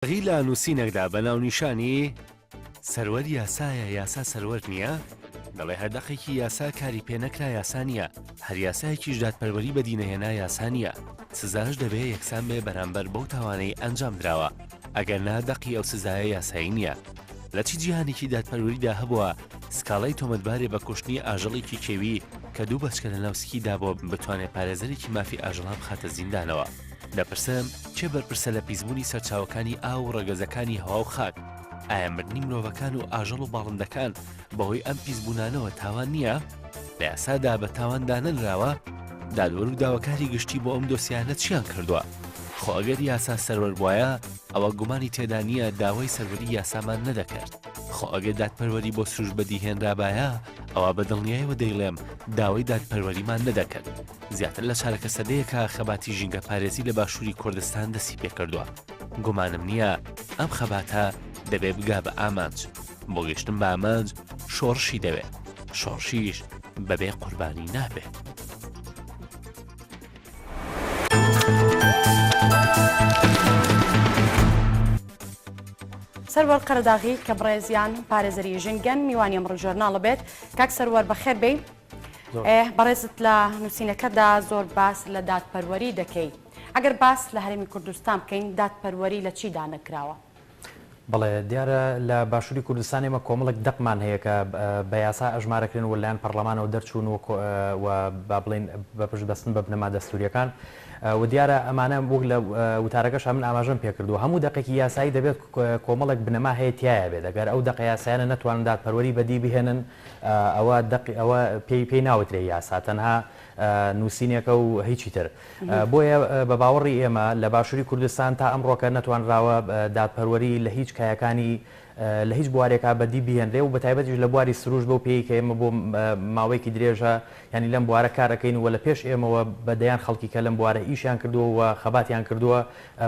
غی لە نوسینەکدا بە ناونیشانی، سەروەر یاسایە یاسا سەروەر نیە؟ دەڵێ هەر دەقێکی یاسا کاری پێ نەکرا یاسا نیە، هەر یاسایەکیش دادپەروەری بەدی نەهێنا یاسا نیە، سزاش دەبێ یەکسان بێ بەرامبەر بەو تاوانەی ئەنجام دراوە، ئەگەر نا دەقی ئەو سزایە یاسایی نیە. لە چ جیهانێکی دادپەروەریدا هەبووە سکاڵای تۆمەتبارێ بە کوشتنی ئاژەڵێکی کێوی کە دوو بەچکە لەناو سکی دابووە بتوانێ پارێزەرێکی مافی ئاژەڵان بخاتە زیندانەوە؟ دەپرسم کێ بەرپرسە لە پیسبوونی سەرچاوەکانی ئاو و ڕەگەزەکانی هەوا و خاک؟ ئایا مردنی مرۆڤەکان و ئاژەڵ و باڵندەکان بەهۆی ئەم پیسبوونانەوە تاوان نییە؟ لە یاسادا بە تاوان دانەنراوە؟ دادوەر و داواکاری گشتی بۆ ئەم دۆسیانە چیان کردووە؟ خۆ ئەگەر یاسا سەروەر بوایە ئەوە گومانی تێدا نییە داوای سەروەری یاسامان نەدەکرد. خۆ ئەگەر دادپەروەری بۆ سروش بەدیهێنرابایە ئەوا بە دڵنیایەوە دەیڵێم داوای دادپەروەریمان نەدەکرد. زیاتر لە چارەکە سەدەیەکە خەباتی ژینگەپارێزی لە باشووری کوردستان دەستی پێکردووە گومانم نییە ئەم خەباتە دەبێ بگا بە ئامانج بۆ گەشتن بە ئامانج شۆڕشی دەوێت شۆڕشیش بەبێ قوربانی نابێت. سەروەر قەرەداغی کە بڕێزیان پارێزەری ژنگەن میوانی ئەمڕ ژۆرناڵە بێت کاک سەروەر بەخێر بێ بەڕێزت لە نووسینەکەدا زۆر باس لە دادپەروەری دەکەی ئەگەر باس لە هەرێمی کوردستان بکەین دادپەروەری لە چیدا نەکراوە؟ بەڵێ دیارە لە باشووری کوردستان ئێمە کۆمەڵێک دەقمان هەیە کە بە یاسا ئەژمارەکرێن و لەلایەن پەرلەمانەوە دەرچوون و و با بڵێین بە پشت بەستن بە بنەما دەستووریەکان و دیارە ئەمانە وەک لە وتارەکەش من ئاماژەم پێکردو هەموو دەقێکی یاسایی دەبێت کۆمەڵێک بنەما هەیە تایە بێت دەگەر ئەو دەقە یاسایانە نەتوانن دادپەروەری بەدی بهێنن ئەوە دەق ئەوە پێی پێی ناوترێ یاسا تەنها نووسینێکە و هیچی تر بۆیە بە باوەڕی ئێمە لە باشووری کوردستان تا ئەم ڕۆکە نەتوانراوە دادپەروەری لە هیچ کایەکانی لە هیچ بوارێکا بەدی بهێنرێ و بە تایبەتیش لە بواری سروش بەو پێی کە ئێمە بۆ ماوەیەکی درێژە ینی لەم بوارە کارەکەین و لە پێش ئێمەوە بە دەیان خەڵکی کە لەم بوارە ئیشیان کردووە و خەباتیان کردووە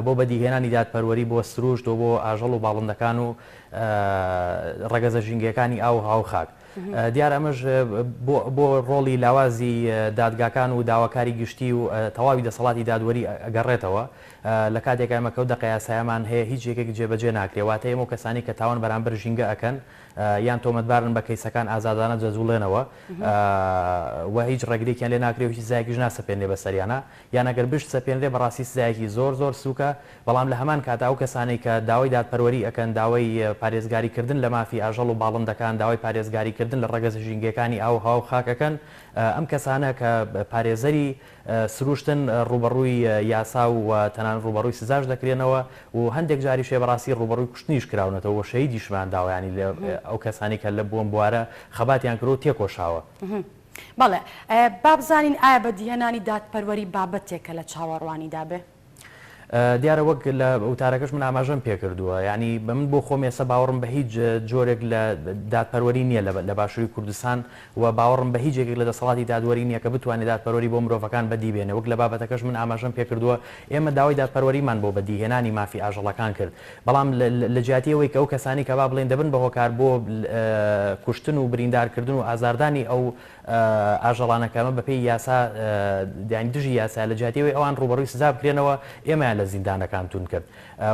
بۆ بەدیهێنانی دادپەروەری بۆ سروشت و بۆ ئاژەڵ و باڵندەکان و ڕەگەزە ژینگەیەکانی ئاو و هاو و خاک. دیارە ئەمەش بۆ ڕۆڵی لاوازی دادگاکان و داواکاری گشتی و تەواوی دەسەڵاتی دادوەری ئەگەڕێتەوە، لە کاتێکا ئێمە کە و دەقە یاسایەمان هەیە هیچ یەکێک جێبەجێ ناکرێ، واتە ئێمە و کەسانی کە تاوان بەرامبەر ژینگە ئەکەن یان تۆمەتبارن بە کەیسەکان ئازادانە دەجوڵێنەوە و هیچ ڕێگرێکیان لێ ناکرێ و هیچ سزایەکیش ناسەپێنرێ بە سەریانا، یان ئەگەر بشت سەپێنرێ بەڕاستی سزایەکی زۆر زۆر سوکە، بەڵام لە هەمان کاتا ئەو کەسانەی کە داوای دادپەروەری ئەکەن داوای پارێزگاری کردن لە مافی ئاژەڵ و باڵندەکان داوای پارێزگاری کردن لە ڕەگەزە ژینگەکانی ئاو و هەوا و خاک ئەکەن ئەم کەسانە کە پارێزەری سروشتن ڕوبەڕوی یاسا و تەنانەت ڕوبەڕوی سزاش دەکرێنەوە و هەندێک جاریشێ بەڕاستی ڕوبەڕوی کوشتنیش کراونەتەوە و شەهیدیشمان داوە یانی ئەو کەسانەی کە لە بۆم بوارە خەباتیان کردوە و تێکۆشاوە. بەڵێ، با بزانین ئایا بەدیهێنانی دادپەروەری بابەتێکە لە چاوەڕوانیدا بێ؟ دیارە وەک لە وتارەکەش من ئاماژەم پێ کردووە، یانی بە من بۆ خۆم ئێستا باوەڕم بە هیچ جۆرێک لە دادپەروەری نییە لە باشووری کوردستان و باوەڕم بە هیچ یەکێک لە دەسەڵاتی دادوەری نییە کە بتوانێ دادپەروەری بۆ مرۆڤەکان بەدی بێنێ وەک لە بابەتەکەش من ئاماژەم پێ کردووە ئێمە داوای دادپەروەریمان بۆ بەدیهێنانی مافی ئاژەڵەکان کرد بەڵام لە جیاتی ئەوەی کە ئەو کەسانەی کە با بڵێین دەبن بە هۆکار بۆ کوشتن و بریندار کردن و ئازاردانی ئەو ئاژەڵانە کە ئەمە بە پێی یاسا یانی دژی یاسایە لە جیاتی ئەوەی ئەوان ڕووبەڕووی سزا بکرێنەوە ئێمەیان لە زیندانەکان توند کرد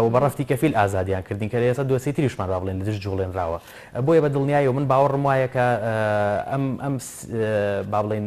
و بە ڕەفتی کەفیل ئازادیان کردین کە لە ئێستا دۆسیەی تریشمان با بڵێین لە دژ جووڵێنراوە بۆیە بە دڵنیایی و من باوەڕم وایە کە ئەم با بڵێین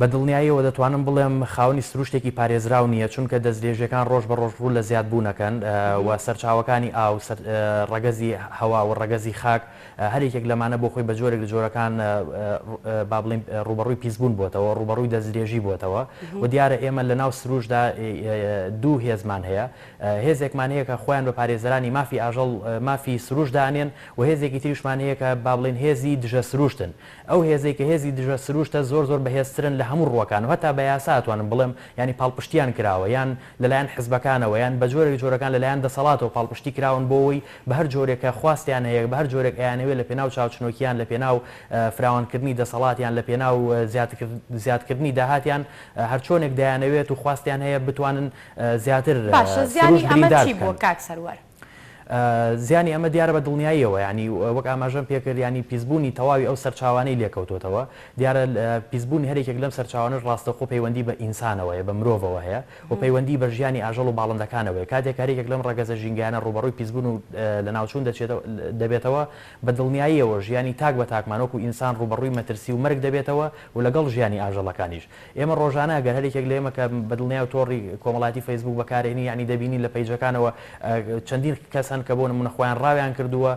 بە دڵنیاییەوە دەتوانم بڵێم خاوەنی سروشتێکی پارێزراو نییە، چونکە دەستدرێژیەکان ڕۆژ بە ڕۆژ ڕوو لە زیادبوونەکەن و سەرچاوەکانی ئاو، ڕەگەزی هەوا و ڕەگەزی خاک، هەر یەکێک لەمانە بۆ خۆی بە جۆرێک لە جۆرەکان با بڵێین ڕووبەڕووی پیسبوون بۆتەوە، ڕووبەڕووی دەستدرێژی بۆتەوە و دیارە ئێمە لە ناو سروشتدا دوو هێزمان هەیە، هێزێکمان هەیە کە خۆیان بە پارێزەرانی مافی ئاژەڵ، مافی سروشت دانێن و هێزێکی تریشمان هەیە کە با بڵێین هێزی دژە سروشتن. ئەو هێزەی کە هێزی دژە سروشتە زۆر زۆر بەهێزترن لە هەموو ڕووەکان و هەتا بە یاسا ئەتوانم بڵێم یانی پاڵپشتییان کراوە یان لەلایەن حزبەکانەوە یان بە جۆرێک جۆرەکان لەلایەن دەسەڵاتەوە پاڵپشتی کراون بۆ ئەوەی بە هەر جۆرێک کە خواستیان هەیە بە هەر جۆرێک ئەیانەوێت لە پێناو چاوچنۆکیان لە پێناو فراوانکردنی دەسەڵات یان لە پێناو زیادکردنی داهاتیان هەر چۆنێک دەیانەوێت و خواستیان هەیە بتوانن زیاتر سروشت بریندار بکەن. زیانی ئەمە دیارە بە دڵنیاییەوە، یانی وەک ئاماژەم پێکرد، یانی پیسبوونی تەواوی ئەو سەرچاوانەی لێکەوتۆتەوە، دیارە پیسبوونی هەر یەکێک لەم سەرچاوانەش ڕاستەوخۆ پەیوەندی بە ئینسانەوە هەیە، بە مرۆڤەوە هەیە و پەیوەندی بە ژیانی ئاژەڵ و باڵندەکانەوە هەیە، کاتێک هەر یەکێک لەم ڕەگەزە ژینگەیانە ڕووبەڕووی پیسبوون و لەناوچوون دەبێتەوە، بە دڵنیاییەوە ژیانی تاک بە تاکمان وەکو ئینسان ڕووبەڕووی مەترسی و مەرگ دەبێتەوە و لەگەڵ ژیانی ئاژەڵەکانیش. ئێمە ڕۆژانە ئەگەر هەر یەکێک لە ئێمە کە بە دڵنیاو تۆڕی کۆمەڵایەتی فەیسبووک بەکارێنی یانی دەبینین لە پەیجەکانەوە چەندین کەس هەن کە بۆ نموونە خۆیان ڕاویان کردووە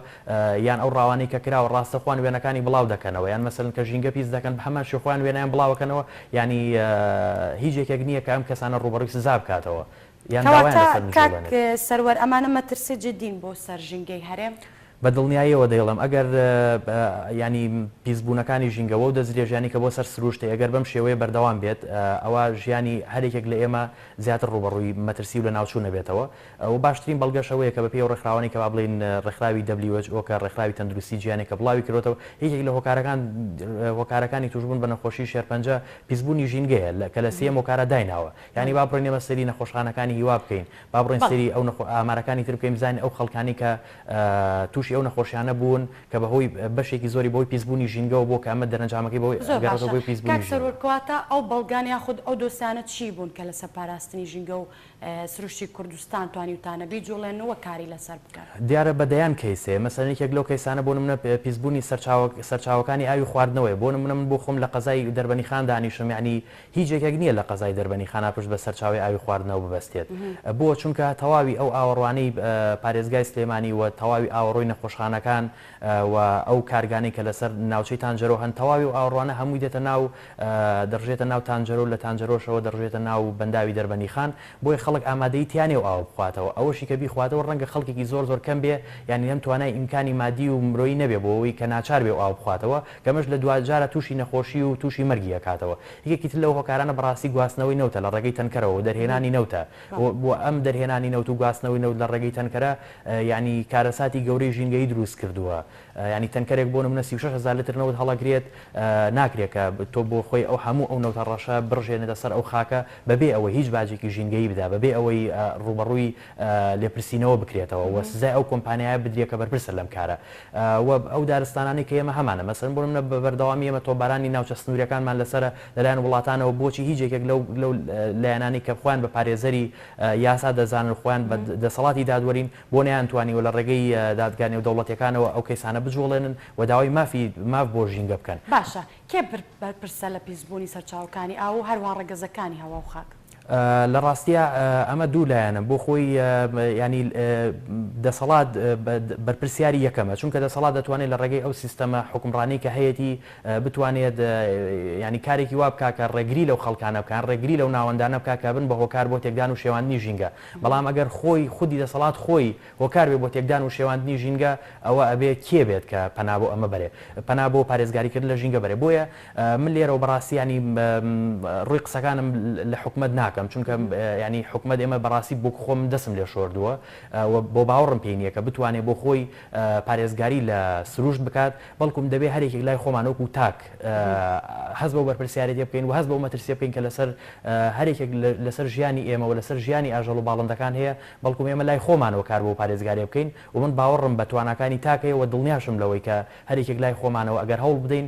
یان ئەو ڕاوانەی کە کراوە ڕاستە خۆیان وێنەکانی بڵاو دەکەنەوە یان مەسەلەن کە ژینگە پیس دەکەن بە هەمان شێوە خۆیان وێنەیان بڵاوەکەنەوە یانی هیچ یەکێک نییە کە ئەم کەسانە ڕووبەڕووی سزا بکاتەوە یان داوایان لەسەر نجووڵێنێت. کەواتە کاک سەروەر ئەمانە مەترسی جیددین بۆ سەر ژینگەی هەرێم؟ بە دڵنیاییەوە دەیڵێم ئەگەر یانی پیسبوونەکانی ژینگە وەو دەستدرێژیانەی کە بۆ سەر سرووشت هەیە گەر بەم شێوەیە بەردەوام بێت ئەوا ژیانی هەر یەکێک لە ئێمە زیاتر ڕووبەڕووی مەترسی و لەناوچوون ئەبێتەوە و باشترین بەڵگەش ئەوەیە کە بە پێی ئەو ڕێکخراوانەی کە با بڵێین ڕێکخراوی who کە ڕێکخراوی تەندروستی جیهانیە کە بڵاوی کردۆتەوە یەکێک لە هۆکارەکان هۆکارەکانی تووشبوون بە نەخۆشی شێرپەنجە پیسبوونی ژینگەیە کە لە سێیەم هۆکارا دایناوە یانی با بڕۆین ئێمە سەیری نەخۆشخانەکانی هیوا بکەین با بڕۆین بەڵێ. سەیری ئەو نەخۆ ئامارەکانی تر بکەین بزانین ئەو خەڵکانەی کە تووشی ئەو نەخۆشیانە بوون کە بە هۆی بەشێکی زۆری بە هۆی پیسبوونی ژینگەوە بۆ کە ئەمە دەرەنجامەکەی بە هۆی زۆر ئەگەڕێتەوە باشە بۆی پیسبوونی کاک ژینگە. سەروەر کەواتە ئەو بەڵگان یاخود ئەو دۆسیانە چی بوون کە لەسەر پاراستنی ژینگە و سروشتی کوردستان توانیوتانە بیجوڵێنن و کاری لەسەر بکەن؟ دیارە بە دەیان کەیس هەیە مەسەلەن یەکێک لەو کەیسانە بۆ نمونە پیسبوونی سەرچاوە سەرچاوەکانی ئاوی خواردنەوەیە بۆ نمونە من بۆ خۆم لە قەزای دەربەنیخان دانیشم یانی هیچ یەکێک نییە لە قەزای دەربەنی خانا پشت بە سەرچاوەی ئاوی خواردنەوە ببەستێت. بۆ؟ چونکە تەواوی ئەو ئاوەڕوانەی پارێزگای سلێمانی و تەواوی ئاوەڕۆی نەخۆشخانەکان و ئەو کارگانەی کە لەسەر ناوچەی تانجەرۆ هەن تەواوی ئەو ئاوەڕوانە هەمووی دێتە ناو دەڕژێتە ناو تانجەرۆ لە تانجەرۆشەوە دەڕژێتە ناو بەنداوی دەربەنی خان بۆیە خەڵک ئامادەی تیا نییە ئەو ئاوە بخواتەوە ئەوەشی کە بیخواتەوە ڕەنگە خەڵکێکی زۆر زۆر کەم بێ یانی هەم توانای ئیمکانی مادی و مرۆیی نەبێ بۆ ئەوەی کە ناچار بێ ئەو ئاوە بخواتەوە کە ئەمەش لە دواجارە تووشی نەخۆشی و تووشی مەرگی ئەکاتەوە. یەکێکی تر لەو هۆکارانە بەڕاستی گواستنەوەی نەوتە لە ڕێگەی تەنکەرەوە و دەرهێنانی نەوتە و و ئەم دەرهێنانی نەوت و گواستنەوەی نەوت لە ڕێگەی تەنکەرە یانی کارەساتی گەورەی ژینگەیی درووست کردووە یانی تەنکەرێک بۆ نموونە سی و شەش هەزار لتر نەوت هەڵەگرێت ناکرێت کە تۆ بۆ خۆی ئەو هەموو ئەو نەوتە ڕەشە بڕژێنێتە سەر ئەو خاکە بەبێ ئەوەی هیچ باجێکی ژینگەیی بدا بەبێ ئەوەی ڕووبەڕووی لێپرسینەوە بکرێتەوە و سزای ئەو کۆمپانیایە بدرێ کە بەرپرسە لەم کارە و ئەو دارستانانەی کە ئێمە هەمانە مەسەن بۆ نمونە بە بەردەوامی ئێمە تۆپبارانی ناوچە سنوریەکانمان لەسەرە لەلایەن وڵاتانەوە بۆچی هیچ یەکێک لەو لەو لایەنانەی کە خۆیان بە پارێزەری یاسا دەزانن و خۆیان بە دەسەڵاتی دادوەرین بۆ نەیانتوانیوە لە ڕێگەی دادگا نێودەوڵەتیەکانەوە ئەو کەیسانە بجوڵێنن و داوای مافی ماف بۆ ژینگە بکەن. باشە کێ بەرپرسە لە پیسبونی سەرچاوەکانی ئاو و هەروەها ڕەگەزەکانی هەوا و خاک؟ لە ڕاستیا ئەمە دوو لایەنە بۆ خۆی یانی دەسەڵات بەرپرسیاری یەکەمە چونکە دەسەڵات دەتوانێت لە ڕێگەی ئەو سیستەمە حکمڕانی کە هەیەی بتوانێت ینی کارێکی وا بکە کە ڕێگری لەو خەڵکانە بکان ڕێگری لەو ناوەندانە بکە کە بن بە هۆکار بۆ تێکدان و شێواندنی ژینگە بەڵام ئەگەر خۆی خودی دەسەڵات خۆی هۆکار بێ بۆ تێکدان و شێواندنی ژینگە ئەوە ئەبێ کێ بێت کە پەنا بۆ ئەمە بەرێ پەنا بۆ پارێزگاریکردن لە ژینگە بەرێ بۆیە من لێرەوە بەڕاستی یانی ڕووی قسەکانم لە حکومەت ناکەم چونکە یانی حکومەت ئێمە بەڕاستی بۆ خۆم دەسم لێ شۆردووە و بۆ باوەڕم پێی نییە کە بتوانێ بۆ خۆی پارێزگاری لە سروشت بکات بەڵکوم دەبێ هەرێکێک لای خۆمان وەکو تاک هەست بەو بەرپرسیارێتیە بکەین و هەست بەو مەترسیە بکەین کە لەسەر هەرێکێک لەسەر ژیانی ئێمە و لەسەر ژیانی ئاژەڵ و باڵندەکان هەیە بەڵکوم ئێمە لای خۆمانەوە کار بۆ پارێزگاریە بکەین و من باوەڕم بە تواناکانی تاک هەیە و دڵنیاشم لەوەی کە هەرێکێک لای خۆمانەوە ئەگەر هەوڵ بدەین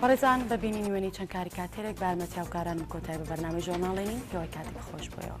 بەڕێزان بە بینینی وێنەی چەند کاریکاتێرێک بە یارمەتی هاوکارانم کۆتای بە بەرنامەی ژۆرناڵی نین پێوەی کاتێک خۆش بۆیەوە.